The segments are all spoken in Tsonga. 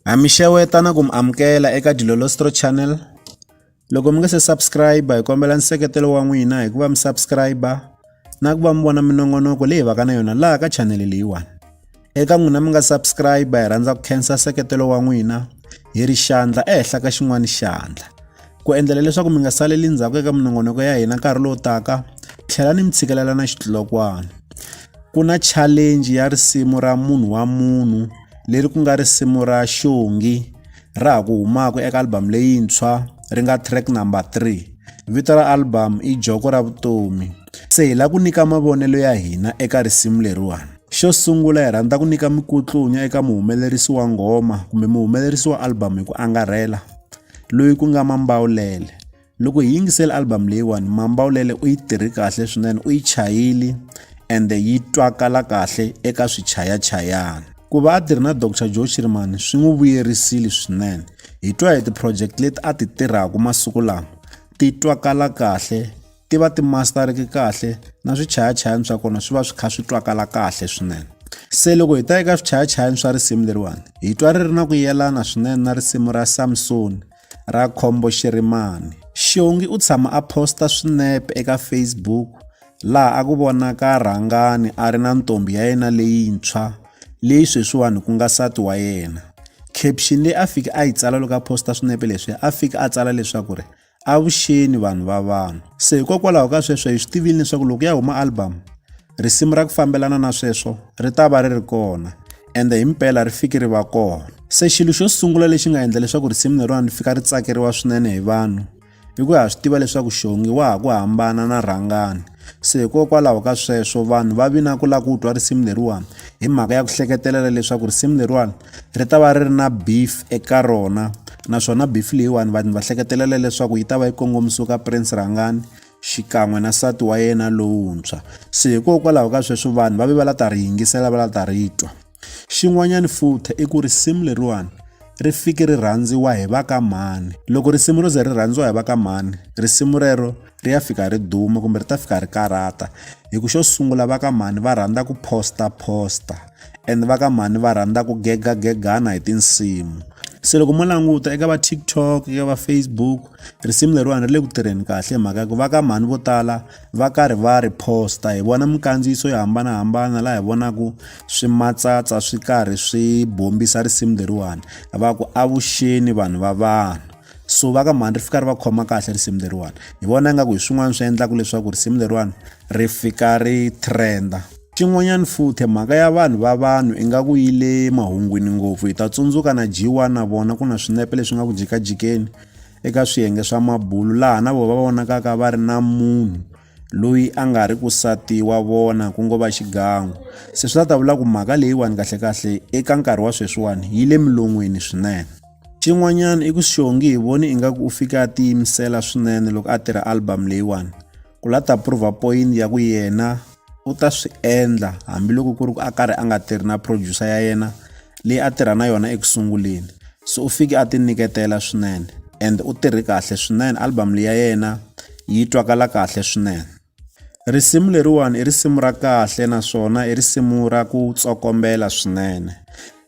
Ha mi xeweta na ku mi amukela eka Dilolostro Channel. Loko mi nga se subscribe hi kombela nseketelo wa n'wina hi ku va mi subscribe na ku va mi vona minongonoko leyi vaka na yona laha ka channel leyiwani. Eka n'wina mi nga subscribe hi rhandza ku khensa nseketelo wa n'wina hi ri xandla ehenhla ka xin'wana xandla. Ku endlela leswaku mi nga saleli ndzhaku eka minongonoko ya hina nkarhi lowu taka, tlhela ni mi tshikelela na xitlokwana. Ku na challenge ya risimu ra munhu wa munhu leri ku nga risimu ra xongi ra ha ku humaka eka album leyintshwa ri nga track number 3 vito ra album i joko ra vutomi se hi lava ku nyika mavonelo ya hina eka risimu leriwani xo sungula hi rhandza ku nyika mikutlunya eka muhumelerisi wa nghoma kumbe muhumelerisi wa album hi ku angarhela loyi ku nga mambawulele loko hi yingisela album leyiwani mambawulele u yi tirhi kahle swinene u yi chayile ende yi twakala kahle eka swichayachayana ku va a tirhi na dr joe shirimani swi n'wi vuyerisile swinene hi twa hi ti-project leti a ti tirhaka masiku lama ti twakala kahle ti va ti mastereke kahle na swichayachayani swa kona swi va swi kha swi twakala kahle swinene se loko hi ta eka swichayachayani swa risimu leriwani hi twa ri ri na ku yelana swinene na risimu ra samsoni Rakhombo Xirimani. Xiongi u tshama a posta swinepe eka Facebook laha a ku vonaka Rhangani a ri na ntombhi ya yena leyintshwa leyi sweswiwani ku nga sati wa yena. Caption leyi a fike a yi tsala loko a posta swinepe leswi a fike a tsala leswaku ri avuxeni vanhu va vanhu. Se hikokwalaho ka sweswo hi swi tivile leswaku loko ya huma album Risimu ra ku fambelana na sweswo ri ta va ri ri kona ende hi mpela ri fiki ri va kona. Se xilo xo sungula lexi nga endla leswaku risimu leriwani ri fika ri tsakeriwa swinene hi vanhu i ku ha swi tiva leswaku xongi wa ha ku hambana na rhangani se hikokwalaho ka sweswo vanhu va vi na ku lava ku twa risimu leriwani hi mhaka ya ku hleketelela leswaku risimu leriwani ri ta va ri ri na beef eka rona naswona beef leyiwani vanhu va hleketelela leswaku yi ta va yi kongomisiwe ka prince rhangani xikan'we na nsati wa yena lowuntshwa. Se hikokwalaho ka sweswo vanhu va ve va la ta ri yingisela va la ta ri twa. Xin'wanyana futhi i ku risimu leriwani ri fike ri rhandziwa hi va ka mhani loko risimu ro ze ri rhandziwa hi va ka mhani risimu rero ri ya fika ri duma kumbe ri ta fika ri karata hi ku xo sungula va ka mhani va rhandza ku posta posta and va ka mhani va rhandza ku gegagegana hi tinsimu se loko mo languta eka va tiktok eka va facebook risimu leriwani ri le ku tirheni kahle hi mhaka ya ku va ka mhani vo tala va karhi va ri posta hi vona minkandziyiso yo hambanahambana laha hi vonaku swi matsatsa swi karhi swi bombisa risimu leriwani va ku avuxeni vanhu va vanhu so va ka mhani ri fika ri va khoma kahle risimu leriwani hi vona ingaku hi swin'wana swi endlaka leswaku risimu leriwani ri fika ri trenda xin'wanyana futhi mhaka ya vanhu va vanhu ingaku yi le mahungwini ngopfu hi ta tsundzuka na jiwa na vona ku na swinepe leswi nga ku jikajikeni eka swiyenge swa mabulu laha na vona va vonakaka va ri na munhu loyi a nga ri ku sati wa vona ku ngo va xigangu se swi ta ta vula ku mhaka leyiwani kahlekahle eka nkarhi wa sweswiwani yi le milon'wini swinene xin'wanyana i ku xongi hi voni ingaku u fika a tiyimisela swinene loko a tirha album leyiwani ku la ta prova point ya ku yena u ta swi endla hambiloko ku ri ku a karhi a nga tirhi na producer ya yena leyi a tirha na yona eku sunguleni so u fike a ti nyiketela swinene and u tirhe kahle swinene album leyi ya yena yi twakala kahle swinene risimu leriwani i risimu ra kahle naswona i risimu ra ku tsokombela swinene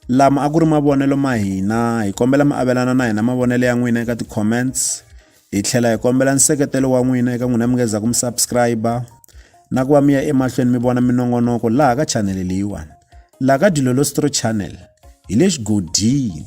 lama a ku ri mavonelo ma hina hi kombela mi avelana na hina mavonelo ya n'wina eka ti-comments hi tlhela hi kombela nseketelo wa n'wina eka n'wina mi nga zaku mi subscriber na ku va mi ya emahlweni mi vona minongonoko laha ka chanele leyiwani laha ka dilolostro channel hi le xigodini